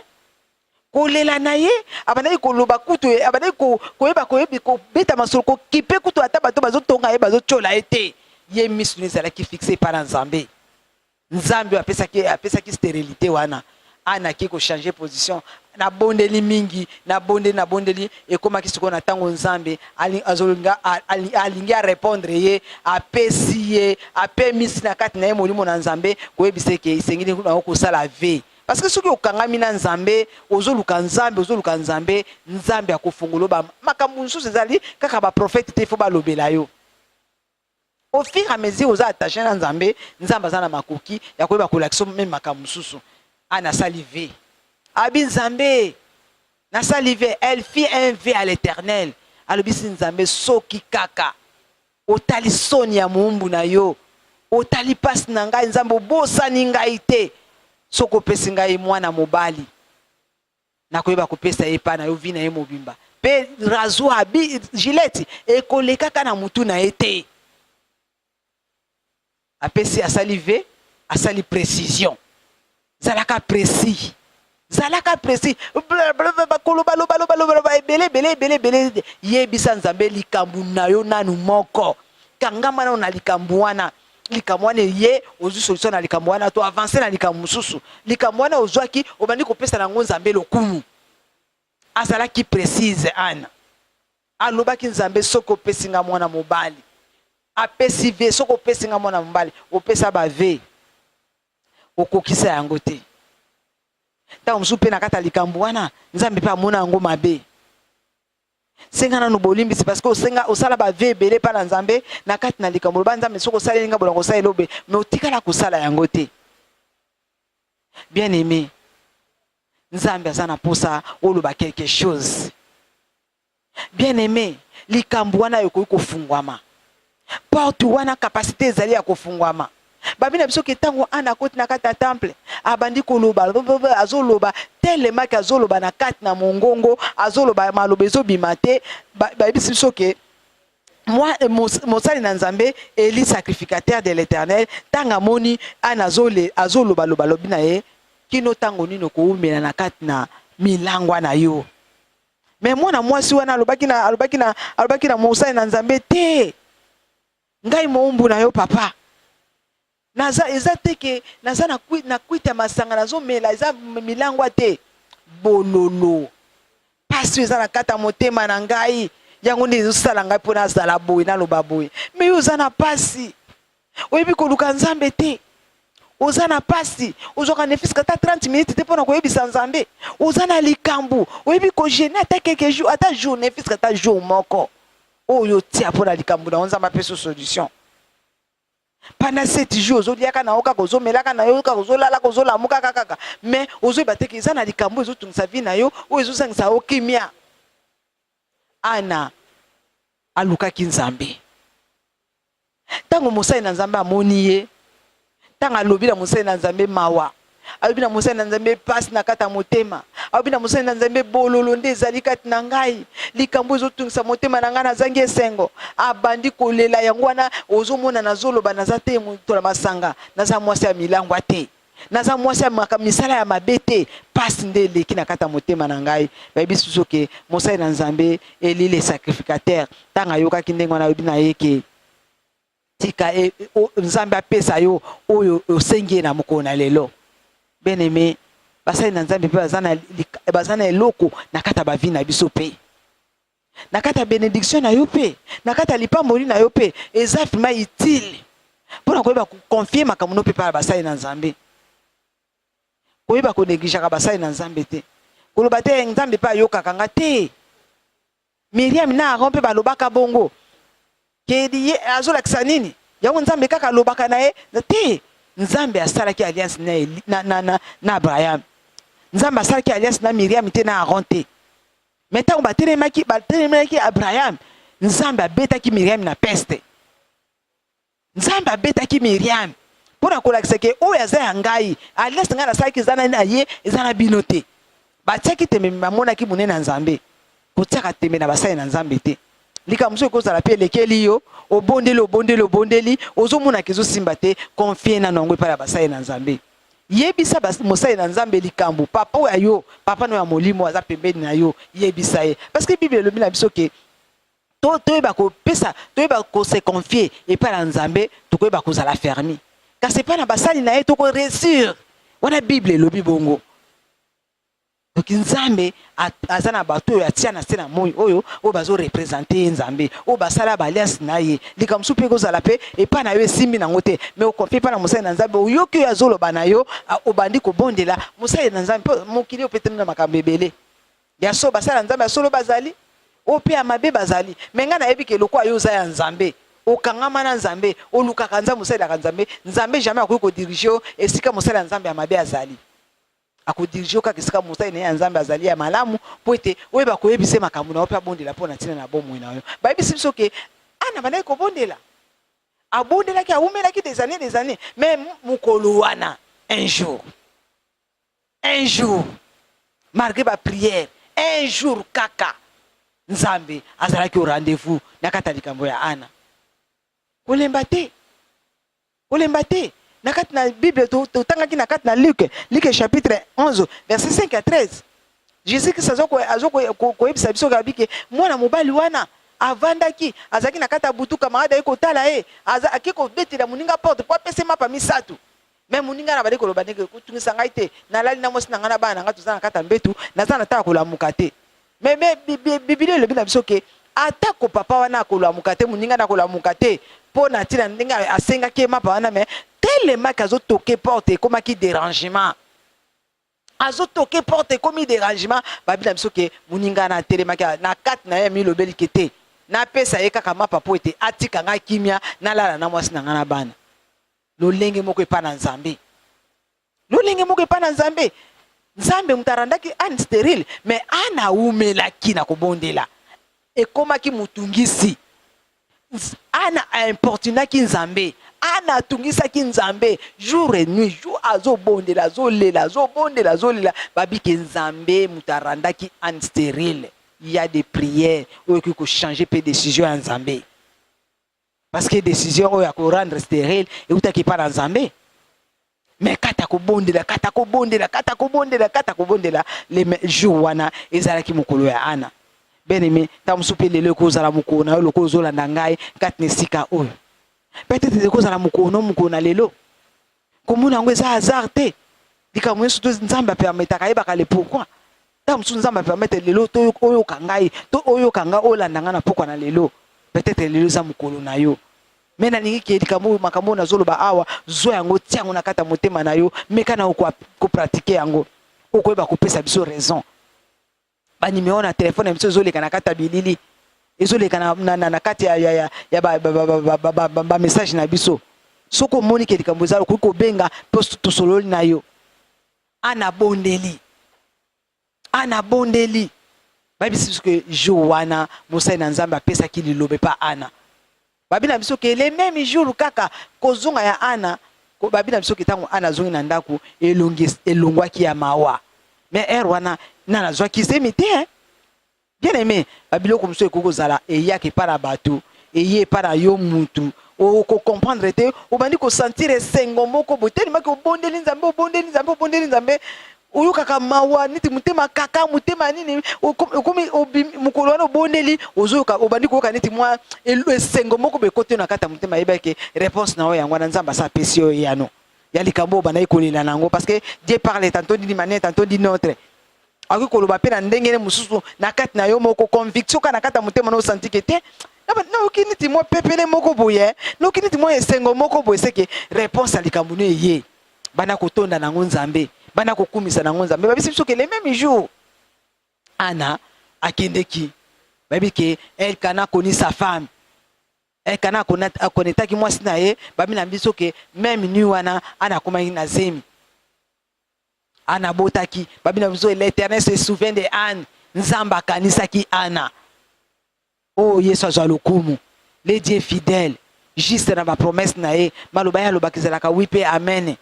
kolela na ye abandaki koloba kutu abandaki koyeba koyebi kobeta masolo kokipe kutu ata bato bazotonga ye bazotyola ye te ye misu na ezalaki fixe epai na nzambe Nzambe oyo apesaki apesaki sterilite wana ana ake kochange position nabondeli mingi nabondeli nabondeli ekomaki sikoyo na ntango nzambe azolinga alingi arepondre ye apesi ye apemisi na kati na ye molimo na nzambe koyebisa eke esengeli nango kosala ve parce que soki okangami na nzambe ozoluka nzambe ozoluka nzambe nzambe akofongolo ba makambo mosusu ezali kaka baprofete te ifo balobela yo au fur et à mesure oza attaché na nzambe nzambe aza na makoki ya koyeba kolakisa meme makambo mosusu a nasali ve abi nzambe nasali ve elle fit un ve à l'éternel alobisi nzambe soki kaka otali soni ya moumbu na yo otali mpasi na ngai nzambe obosani ngai te soki opesi ngai mwana mobali nakoyeba kopesa ye epai na yo vi na ye mobimba mpe razwa gileti ekolekaka na motu na ye te apesi asali ve asali precision zalaka presi zalaka presi bakolobalobalobaloba ebele ebele ebele ebele yebisa nzambe likambo na yo nanu moko kangama nano na likambo wana likambo wana eye ozwi solution na likambo wana to avance na likambo mosusu likambo wana ozwaki obandi kopesa na yango nzambe lokumu azalaki précise ana alobaki nzambe soki opesi nga mwana mobali apesi ve soki opesi nga mwana mobali opesa bave okokisa yango te ntango mosusu mpe na kati ya likambo wana nzambe mpe amona yango mabe senga nanu bolimbisi parce que osenga osala ba vie ebele pa na nzambe na kati na likambo loba nzambe soki osaleli nga bolongo osaleli obe me otikala kosala yango te bien aimé nzambe aza na mposa oloba quelque chose bien aimé likambo wana ekoki kofungwama porte wana kapasite ezali ya kofungwama babi na biso ke ntango ana akoti na kati ya temple abandi koloba azoloba telemaki azoloba na kati na mongongo azoloba maloba ezobima te bayebisi biso ke moi eh, mosali na nzambe eli sacrificateur de l'éternel ntango amoni ana azolobaloba lobi na ye kino ntango nini okowumela na kati na milangwa na yo me mwana mwasi wana alobaki na alobaki na alobaki na mosali na nzambe te ngai moumbu na yo papa naza eza te ke naza na, kui, na kwita ya masanga nazomela eza milangwa te bololo mpasi oyo eza na kati ya motema na ngai yango nde ezosala ngai mpo nazala boye naloba boye me yo oza na mpasi oyebi koluka nzambe te oza na pasi ozwaka ne fiske ata 30 minutes te mpo na koyebisa nzambe oza na likambo oyebi kogene ata quelque jour ata jour ne fiske ata jour moko oyo otia mpo na likambo na yo nzambe apesa solution pendant sept jours ozoliaka na yo kaka ozomelaka na yo kaka ozolalaka ozolamukaka kaka mais ozoyeba teke eza na likambo ezotungisa vi na yo oyo ezozangisa yo kimia ana alukaki nzambe ntango mosali na nzambe amoni ye ntango alobi na mosali na nzambe mawa alobi na mosali na nzambe mpasi na kati ya motema alobi na mosali na nzambe bololo nde ezali kati na ngai likambo ezotungisa motema na ngai nazangi esengo abandi kolela yango wana ozomona nazoloba naza te moto na masanga naza mwasi ya milangwa te naza mwasi ya maka misala ya mabe te pasi nde eleki na kati ya motema na ngai bayebi susu ke mosali na nzambe eli le sacrificateur ntango ayokaki ndenge wana ayebi na ye ke tika e, o, nzambe apesa yo oyo osengi ye na mokolo na lelo beneme basali na nzambe mpe baza na eloko na kati ya bavi na biso mpe na kati ya benediction na yo mpe na kati ya lipamboli na yo mpe eza vrima utile mpo na koyeba koconfie makambo no mpe epai ya basali na nzambe koyeba konegligeaka basali na nzambe te koloba te nzambe mpe ayokaka nga te miriam na aron mpe balobaka bongo Kedi ye azolakisa nini yango nzambe kaka alobaka na ye te nzambe asalaki alliance na, na, na, na, na abraham nzambe asalaki alliance na miriam te na aron te me ntango batelemaki batelemelaki abraham nzambe abetaki miriam na peste nzambe abetaki miriam mpo na kolakisa ke oyo aza ya ngai alliance ngai nasalaki eza na ye eza na bino te Batiaki tembe me bamonaki monene ya Nzambe. Kotiaka tembe na basali na Nzambe te. Likambo mosusu ekozala mpe elekeli yo, obondeli, obondeli, obondeli, ozomonaka ezosimba te, konfie nano yango epai ya basali na Nzambe. Yebisa mosali na Nzambe likambo, papa oyo ya yo, papa no ya molimo aza pembeni na yo, yebisa ye. Parce que Bible elobi na biso ke to toyeba kopesa toyeba kose confie epai na nzambe tokoyeba kozala fermi kasi epai na basali na ye toko resure wana bible elobi bongo soki nzambe aza na bato oyo atia na se na moi oyo oyo bazorepresente ye nzambe oyo basala baalliance na ye likambo mosusu mpe ekozala mpe epai na yo esimbi nango te mai okonfie epai na mosali na nzambe oyoki oyo azoloba na yo obandi kobondela mosali na nzambe mpo mokili opeteluna makambo ebele Ya solo basali ya Nzambe ya solo bazali, oyo mpe ya mabe bazali. Me ngai nayebi ke lokola yo oza ya Nzambe, okangama na Nzambe, olukaka Nzambe, osalelaka Nzambe, Nzambe jamais akoki kodirige yo esika mosali ya Nzambe ya mabe azali. Akodirige yo kaka esika mosali na ye ya Nzambe azali ya malamu, mpo ete oyeba koyebisa ye makambo na yo mpe abondela mpo na ntina na bomoi na yo. Bayebisi biso ke Ana abandaki kobondela, abondelaki, awumelaki des années des années, mais mokolo wana un jour un jour malgre ba prière un jour kaka nzambe azalaki au rendez-vous na kati ya likambo ya ana kolemba te kolemba te na kati na bible totangaki na kati na luke luke chapitre 11 verset 5 ya 13 jésus kristo azo koyebisa biso kabi ke mwana mobali wana avandaki azalaki na kati ya butu kamarade aye kotala ye ake kobetela moninga porte mpo apesa ye mapa misato me moninga na bali koloba ndenge kotungisa ngai te nalali na mwasi na ngai na bana na ngai toza na kati ya mbetu naza na ntango kolamuka te me biblia elobi na biso ke atako papa wana akolamuka te moninga na kolamuka te mpo na ntina ndenge asengaki ye mapa wana me telemaki azotoke porte ekomaki derangement azotoke porte ekomi derangement babi na biso ke moninga na atelemaki na kati na ye amilobeli ke te napesa ye kaka mapa mpo ete atika ngai kimia nalala na mwasi na ngai na bana Lolenge moko epai na Nzambe. Lolenge moko epai na Nzambe. Nzambe moto arandaki Anne sterile, mais Anne awumelaki na kobondela. Ekomaki motungisi. Anne importunaki Nzambe. Anne atungisaki Nzambe jour et nuit. Jour azobondela, azolela, azobondela, azolela. Babike Nzambe moto arandaki Anne sterile. Il y a des prières oyo ekoki ko changer pe decision ya Nzambe. parce que décision oyo ako rendre sterile eutaki pa na Nzambe mais kata kobondela kata kobondela kata kobondela kata kobondela le jour wana ezalaki mokolo ya Ana bien aimé ntango mosusu mpe lelo ekozala mokolo na yo lokola ozolanda ngai kati na esika oyo peut-être ekozala mokolo no mokolo na lelo komona yango eza hasard te likambo nyonso to nzambe apermetaka ayebaka le pourkui ntango mosusu nzambe apermetre lelo to oyoka ngai to oyoka ngai olanda ngai na pokwa na lelo peut-être lelo eza mokolo na yo me nalingi ke likambo oyo makambo oyo nazoloba awa zwa yango tia yango na kati ya motema na yo meka na kopratike yango okoyeba kopesa biso raison ba numero na telefone ya biso ezoleka na kati ya bilili ezoleka na, na, na, na kati ya, ya, ya, ya bamessage na biso soki omoni ke likambo eza okoki kobenga mpo tosololi na yo ana bondeli ana bondeli bayebisi biso ke jour wana mosali na nzambe apesaki liloba epa ana Babi na biso ke le meme jour kaka kozonga ya Ana ko babi na biso ke tango Ana azongi na ndako elongi elongwaki ya mawa mais heure wana na nazwaki zemi te hein? bien aime babiloko mosusu ekoki kozala eyaka epai na bato eye epai na yo mutu okocomprendre te obandi kosentir esengo moko botelimaki obondeli nzambe obondeli nzambe obondeli nzambe oyokaka mawa neti motema kaka motema nini okomi mokolo wana obondeli ozoyoka obandi koyoka neti mwa esengo moko bekote na kati ya motema yebake réponse na yo yango wana nzambe asa apesi yo eyano ya likambo oyo bandaki kolela na yango parce que dieu parle tantôt d'une manière tantôt d'une autre akoki koloba mpe na ndenge ne mosusu na kati na yo moko conviction kaka na kati ya motema na osanti ke te nayoki neti mwa pepele moko boye nayoki neti mwa esengo moko boye seke réponse ya likambo no eye banda kotonda na yango nzambe banda kokumisa na yango nzambe babisi biso ke le meme jour ana akendeki bayebi ke elkana akoni sa femme elkana akonetaki mwasi na ye babi na biso ke meme nui wana ana akomaki na zemi ana abotaki babi na biso l'éternel se souvient de anne nzambe akanisaki ana Oh Yesu azwa lokumu. Le Dieu fidèle, juste na ba promesses na ye, maloba ye alobaka ezalaka oui pe amen.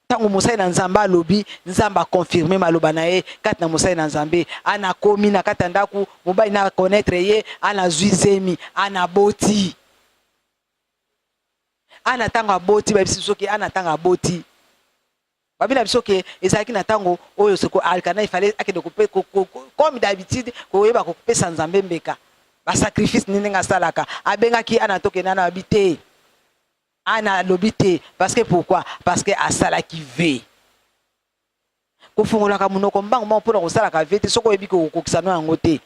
Tango mosali na Nzambe alobi, Nzambe a confirmer maloba na ye kati na mosali na Nzambe. Ana akomi na kati ya ndako, mobali na connaître ye, ana azwi zemi, ana aboti. Ana tango aboti, bayebisi biso ke ana tango aboti, Babi na biso ke ezalaki na tango oyo soko Alkana ifale akende kope comme d'habitude koyeba kopesa Nzambe mbeka ba sacrifice nini ndenge asalaka abengaki ana toke nana babi te ana alobi te parce que pourquoi parce que asalaki ve kofungolaka monoko mbango mbango mpona kosalaka ve te soko oyebi kokokisa no yango te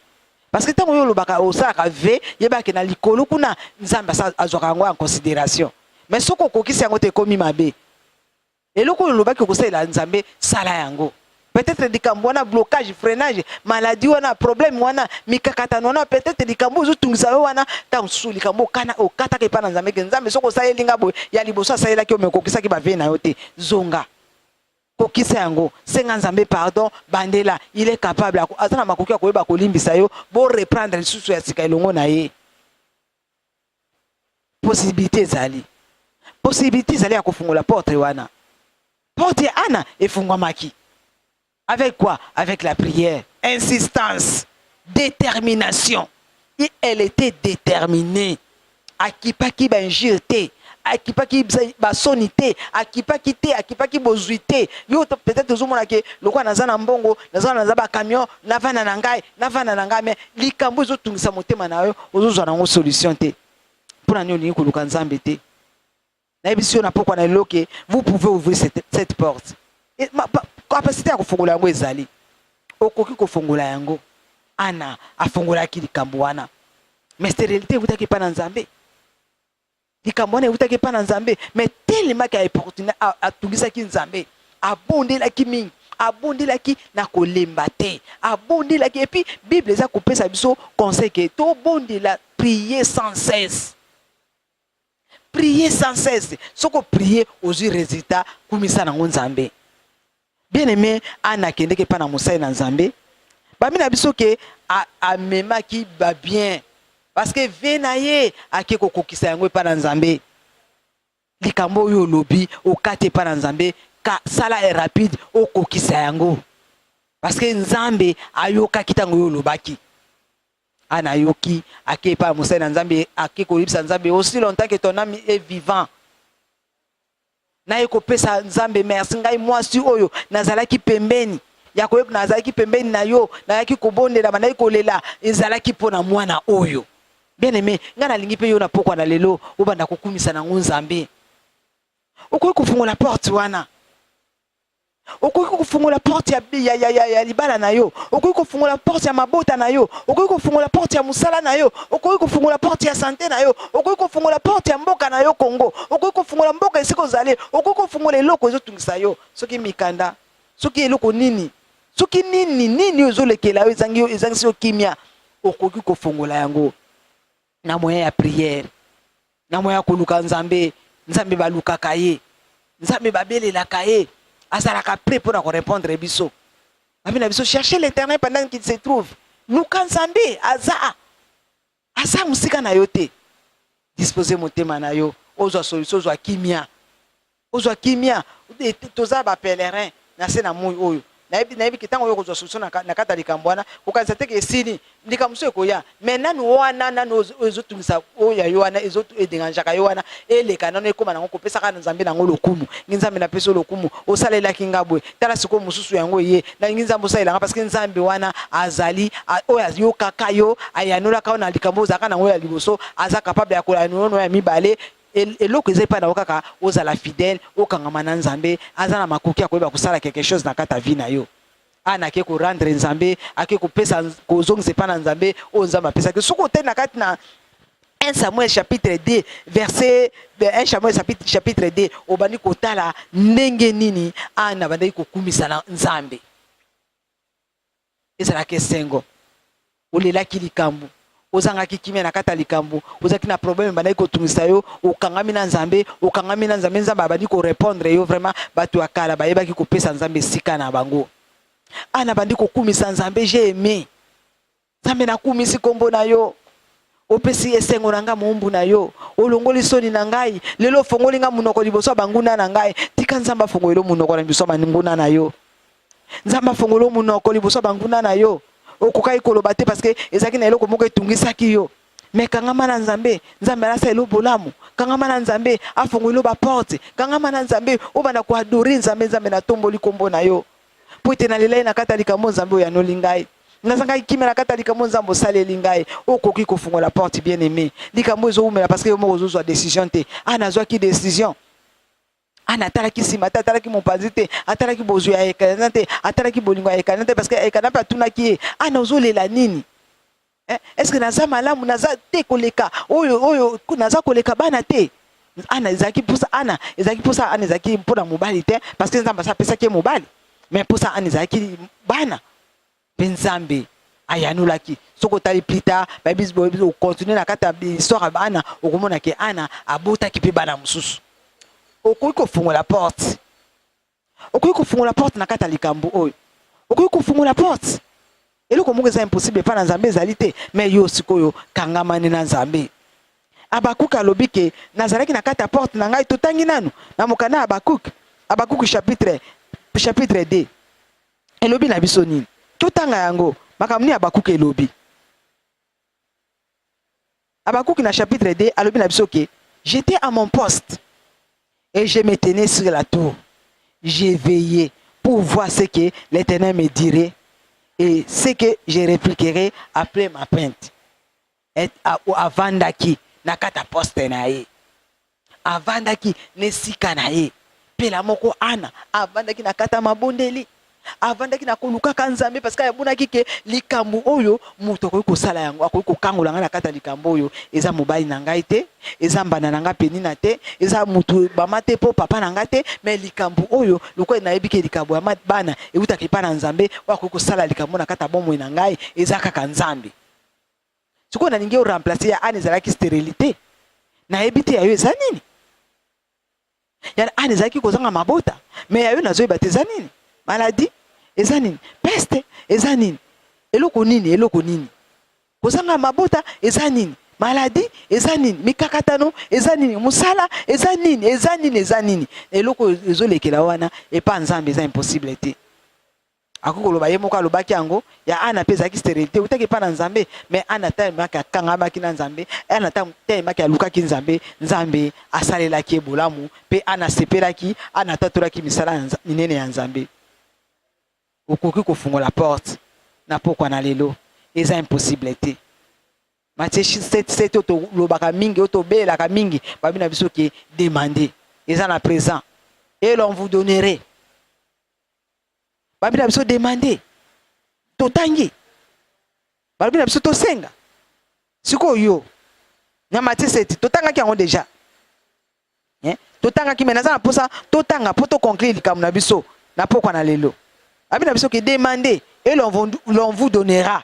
parce que ntango yo olobaka osalaka ve yebake na likolo kuna nzambe azwaka yango en considération mais soko okokisi yango te ekomi mabe Eloko oyo olobaki okosalela Nzambe, sala yango. Peut-être likambo wana, blocage, freinage, maladie wana, problème wana, mikakatano wana, peut-être likambo ozo tungisa yo wana, ta mosusu likambo okana okataka epa na Nzambe ke Nzambe soko osaleli nga boye, ya liboso asalelaki yo mais okokisaki ba vie na yo te. Zonga. Kokisa yango. Senga Nzambe pardon, bandela, il est capable, aza na makoki ya koyeba kolimbisa yo, bo reprendre lisusu ya sika elongo na ye. possibilité ezali possibilité ezali ya kofungola porte wana porte ya ana efungwamaki avec quoi avec la prière insistance détermination et elle était déterminée akipaki bainjure te akipaki basoni te akipaki te akipaki bozwi te yo peut-être ozomona ke lokola naza na mbongo naza naza bacamion navanda na ngai navanda na ngai me likambo ezotungisa motema na yo ozozwa nango solution te mpo na nini olingi koluka nzambe te nayebisi yo na pokwa na eloke vous pouvez ouvrir cette, cette porte kapasite ya kofongola yango ezali okoki kofongola yango ana afongolaki likambo wana mais sterilité eutaki epai na nzambe likambo wana ewutaki epai na nzambe me telemaki aeportune atungisaki nzambe abondelaki mingi abondelaki na kolemba te abondelaki epuis bible eza kopesa biso conseil ke tobondela prier sans cesse prier sans cesse soko prier ozwi resultat kumisa nango nzambe Bien aime Anna akendeke epai na mosali na Nzambe, bambi na biso ke a, amemaki ba bien parce que vie na ye ake kokokisa yango epai na Nzambe. Likambo oyo olobi okati epai na Nzambe, ka sala e rapide okokisa yango parce que Nzambe ayokaki ntango oyo olobaki. Anna ayoki, ake epai ya mosali na Nzambe, ake koyebisa Nzambe aussi longtemps que ton âme est vivant naye kopesa nzambe merci ngai mwasi oyo nazalaki pembeni ya koyeba nazalaki pembeni na yo nayaki kobondela bandaki kolela ezalaki mpo na mwana oyo bien aime ngai nalingi mpe yo na pokwa na lelo obanda kokumisa na yango nzambe okoki kofungola porte wana okoki kofungola porte ya, ya, ya, ya libala na yo okoki kofungola porte ya mabota na yo okoki kofungola porte ya mosala na yo okoki kofungola porte ya sante na yo okoki kofungola porte ya mboka na yo kongo okoki kofungola mboka esika ozali okoki kofungola eloko ezotungisa yo soki mikanda soki eloko nini soki nini nini oyo ezolekela yo ezangisi yo kimia okoki kofungola yango na moyen ya prière na moyen ya koluka nzambe nzambe balukaka ye nzambe babelelaka ye azalaka prêt mpo na korepondre biso babi na biso cherche l'éternel pendant qu'il se trouve luka nzambe aza aza mosika na yo te dispose motema na yo ozwa solution ozwa kimia Kozwa kimia, toza ba pèlerins na se na moyi oyo. Nayebi, nayebi ke tango oyo kozwa solution na, na kati ya likambo wana, kokanisa te ke esili, likambo mosusu ekoya. Mais nanu wana, nanu oyo, oyo ezotungisa oyo ya yo wana, ezo e derangeaka yo wana, eleka nanu, ekoma nango, kopesa kaka na Nzambe nango lokumu. Ngi Nzambe, napesi yo lokumu, osalelaki nga boye, tala sikoyo mosusu yango eye. Nalingi Nzambe osalela nga, parce que Nzambe wana azali, a, oyo ayokaka yo, ayanolaka yo na likambo oyo ozalaka nango ya liboso, aza capable ya koyanola yo na oyo ya mibale, eloko eza epai na yo kaka ozala fidèle, okangama na Nzambe, aza na makoki ya koyeba kosala quelque chose na kati ya vie na yo. Ana ake ko rendre Nzambe, ake kopesa kozongisa epai na Nzambe oyo Nzambe apesaki. Soki otali na kati na 1 Samuel chapitre 2 verset 1 Samuel chapitre 2 obandi kotala ndenge nini Ana abandaki kokumisa na Nzambe. ezalaka esengo olelaki likambo ozangaki kimia na kati ya likambo ozalaki na problème ebandaki kotungisa yo okangami na nzambe okangami na nzambe nzambe abandi korepondre yo vraiment bato ya kala bayebaki kopesa nzambe esika na bango a ah, nabandi kokumisa nzambe je aime nzambe nakumisi nkombo na yo opesi esengo na ngai moumbu na yo olongoli soni na ngai lelo ofongoli ngai monoko liboso ya banguna na ngai tika nzambe afongolelo monoko na biso ya banguna na yo nzambe afongolo monoko liboso ya banguna na yo okokaki koloba te parce que ezalaki na eloko moko etungisaki yo me kangama na nzambe nzambe alasa elo bolamu kangama na nzambe afongolo baporte kangama na nzambe obanda koadore nzambe nzambe natomboli nkombo na yo mpo ete nalelai na kati ya likambo nzambe oyanoli ngai nazangaki kimia na kati ya likambo nzambe osaleli ngai okoki kofungola porte bien aime likambo ezowumela parce que yo moko ozozwa decision te a ah, nazwaki decision ana ah, atalaki nsima te atalaki mopanzi te atalaki bozwi ya ekana te atalaki bolingo ya ekana te parce que ekana mpe atunaki ye ana ah, ozolela nini eh, est ce que naza malamu naza te koleka oyo oyo naza koleka bana te ana ezalaki mposa ana ezalaki mposa ana ezalaki mpo na mobali te parce que nzambe asa apesaki ye mobali mais mposa ana ezalaki bana Mpe Nzambe ayanolaki soki otali plus tard bayebi boyebi okontinue na kati ya histoire ya ana okomona ke ana abotaki mpe bana mosusu okoki kofungola porte okoki kofungola porte na kati ya likambo oyo okoki kofungola porte eloko moko eza impossible epai na nzambe ezali te mai yo sikoyo kangamani na nzambe abakuke alobi ke nazalaki na kati ya porte na ngai totangi nanu na mokanda ya abakuke abakuke chapitre chapitre 2 elobi na biso nini? Totanga yango makambo nini Habakuki elobi. Habakuki na chapitre 2 alobi na biso ke j'étais à mon poste et je me tenais sur la tour j'ai veillé pour voir ce que l'Éternel me dirait et ce que je répliquerai après ma plainte. Et avandaki na kati ya poste na ye, avandaki na esika na ye pelamoko. Ana avandaki na kati ya mabondeli, avandaki na kolukaka Nzambe, parce que abonaki ke likambo oyo moto akoki kosala yango, akoki kokangola ngai na kati ya likambo oyo eza mobali na ngai te, eza mbanda na ngai penina te, eza moto bama te po papa na ngai te, mais likambo oyo lokola nayebi ke likambo ya bana ewutaka epa na Nzambe, oyo akoki kosala likambo na kati ya bomoi na ngai eza kaka Nzambe. sikoyo nalingi o remplacer ya ane ezalaki sterilite nayebi te ya yo eza nini ya ane ezalaki kozanga mabota me ya yo nazoyeba te eza nini maladi eza nini peste eza nini eloko nini eloko nini kozanga mabota eza nini maladi eza nini mikakatano eza nini mosala eza nini eza nini eza nini eloko ezolekela wana epa nzambe eza impossible te akoki koloba ye moko alobaki yango ya ana mpe ezalaki sterilité eutaki epai na nzambe me ana talemaki akangamaki na nzambe ana talemaki alukaki nzambe nzambe asalelaki ye bolamu mpe ana asepelaki ana atatolaki misala minene ya nzambe okoki kofungola porte na pokwa na lelo eza impossible te matie 77 oyo tolobaka mingi oyo tobelaka mingi babi na biso ke demande eza na présent et l'on vous donnerait balobi na biso demande totangi balobi na biso tosenga sikoyo yo na matiseti totangaki yango deja eh? totangaki me naza na mposa totanga mpo toconclure likambo na biso na pokwa na lelo babi na biso ke demande e l'on vous donnera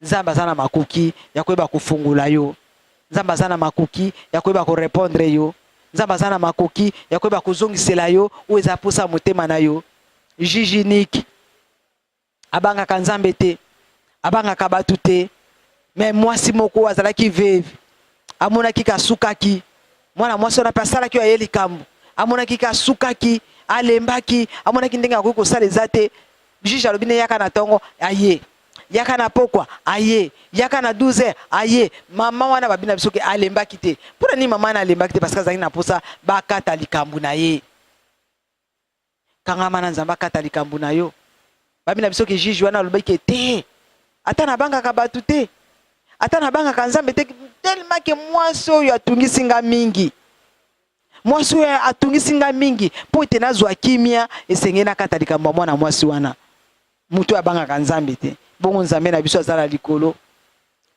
Nzambe aza na makoki ya koyeba kofungola yo. Nzambe aza na makoki ya koyeba korepondre yo. Nzambe aza na makoki ya koyeba kozongisela yo oyo eza mposa ya motema na yo. Jiji Niki abangaka Nzambe te, abangaka bato te. Me mwasi moko azalaki veve, amonaki kasukaki mwana mwasi wana mpe asalaki oyo aye likambo, amonaki kasukaki, alembaki, amonaki ndenge akoki kosala eza te. Jiji alobi ne yaka na ntongo aye yaka na pokwa aye yaka na 12 heures aye mama wana babi na biso ke alembaki te mpo na nini mama wana alembaki te parce que azalaki na mposa bakata likambo na ye kangama na nzambe akata likambo na yo babi na biso ke juge wana alobaki ke te ata nabangaka bato te ata nabangaka nzambe te telema ke mwasi oyo atungisi nga mingi mwasi oyo atungisi nga mingi mpo ete nazwa kimia esengeli nakata likambo ya mwana mwasi wana moto oyo abangaka nzambe te bongo nzambe na biso aza na likolo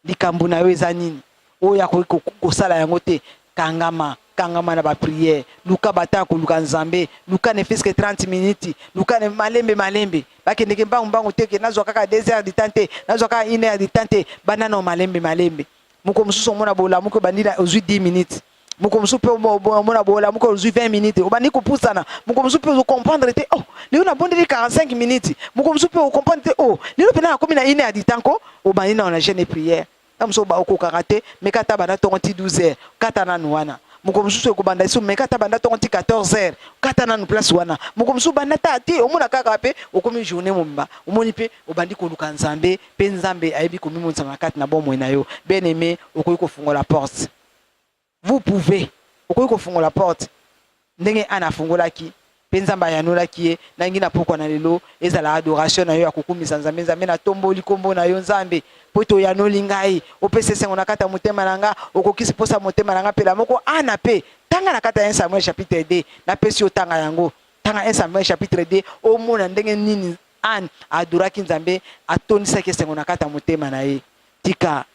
likambo na yo eza nini oyo akoki kosala yango te kangama kangama na bapriere luka bataka koluka nzambe luka ne fiske 30 minutes luka ne malembe malembe bakendeke mbangu mbangu te ke nazwa kaka 2 heures du temps te nazwa kaka 1 heure du temps te banana malembe malembe moko mosusu omona bolamuki obandi ozwi 10 minutes moko mosusu mpe omona bolamuka ozwi 20 minutes obandi kopusana moko mosusu mpe ozokomprendre te oh lelo nabondeli 45 minutes moko mosusu mpe okomprendre te oh lelo mpenza nakomi na ine ya ditanko obandi nao na jeune prière na mosusu okokaka te meka ata banda ntongo ti 12 heures kata nanu wana moko mosusu ekobanda lisusu meka ata banda ntongo ti 14 heures kata nanu place wana moko mosusu banda ta te omona kaka mpe okomi journée mobimba omoni mpe obandi koluka nzambe mpe nzambe ayebi komimonisama na kati na bomoi na yo bien aime okoki kofungola porte vous pouvez okoki kofungola porte ndenge ana afungolaki mpe nzambe ayanolaki ye nangi na pokwa na lelo ezala adoration na yo ya kokumisa nzambe nzambe natomboli nkombo na yo nzambe mpo ete oyanoli ngai opesi esengo na kati ya motema na nga okokisi mposa motema na nga mpela moko ana mpe tanga na kati ya 1 samuel chapitre 2 napesi yo tanga yango tanga 1 samuel chapitre 2 omona ndenge nini ane adoraki nzambe atondisaki esengo na kati ya motema na ye tika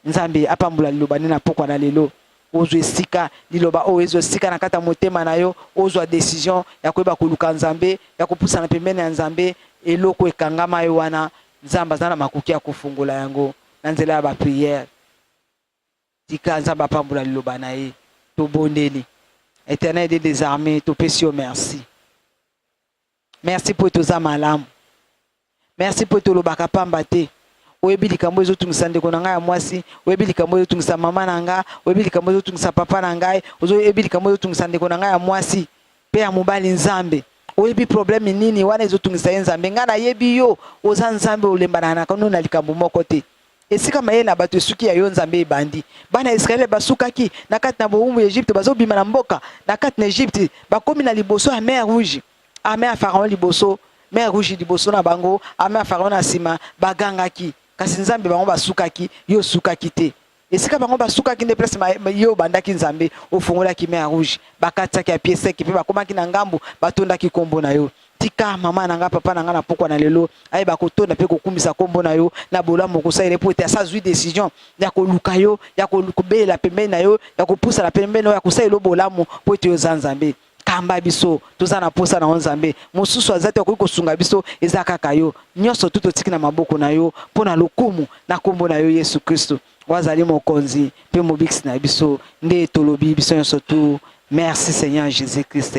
Nzambe apambola liloba nde na pokwa na lelo ozwa esika liloba oyo ezwa esika na kati ya motema na yo, ozwa decision ya koyeba koluka Nzambe, ya kopusana pembeni ya Nzambe. Eloko ekangama yo wana, Nzambe aza na makoki ya kofongola yango na nzela ya ba prière. Tika Nzambe apambola liloba na ye. Tobondeli. Eternel de desarme, topesi yo merci. Merci po toza malamu. Merci po tolobaka pamba te. oyebi likambo ezotungisa ndeko na ngai ya mwasi oyebi likambo ezotungisa mama na ngai oyebi likambo ezotungisa papa na ngai oyebi likambo ezotungisa ndeko na ngai ya mwasi mpe ya mobali nzambe oyebi probleme nini wana ezotungisa ye nzambe ngai nayebi yo oza nzambe olembanaka no na likambo moko te Esika mayele na bato esuki ya yo Nzambe ebandi. Bana ya Israele basukaki na kati na bowumbu ya Egypte, bazobima na mboka na kati na Egypte, bakomi na liboso ya mer Rouge. Ame ya Pharaon liboso, mer Rouge liboso na bango, ame ya Pharaon na nsima, bagangaki. Kasi Nzambe bango basukaki, yo osukaki te. Esika bango basukaki nde place yo obandaki Nzambe, ofungolaki mer Rouge, bakatisaki ya pie sec mpe bakomaki na ngambo, batondaki kombo na yo. tika mama na nga papa na nga na pokwa na lelo ayeba kotonda mpe kokumisa nkombo na yo na bolamu okosalela mpo ete asa azwi decision ya koluka yo ya kobelela pembeni na yo ya kopusana pembeni na yo ya kosalela yo bolamu mpo ete oza nzambe kamba biso toza na posa na yo nzambe mosusu aza te akoki kosunga biso eza kaka yo nyonso tu totiki na maboko na yo mpo na lokumu na nkombo na yo yesu kristo oyo azali mokonzi mpe mobikisi na biso nde tolobi biso nyonso tu merci seigneur jésus christ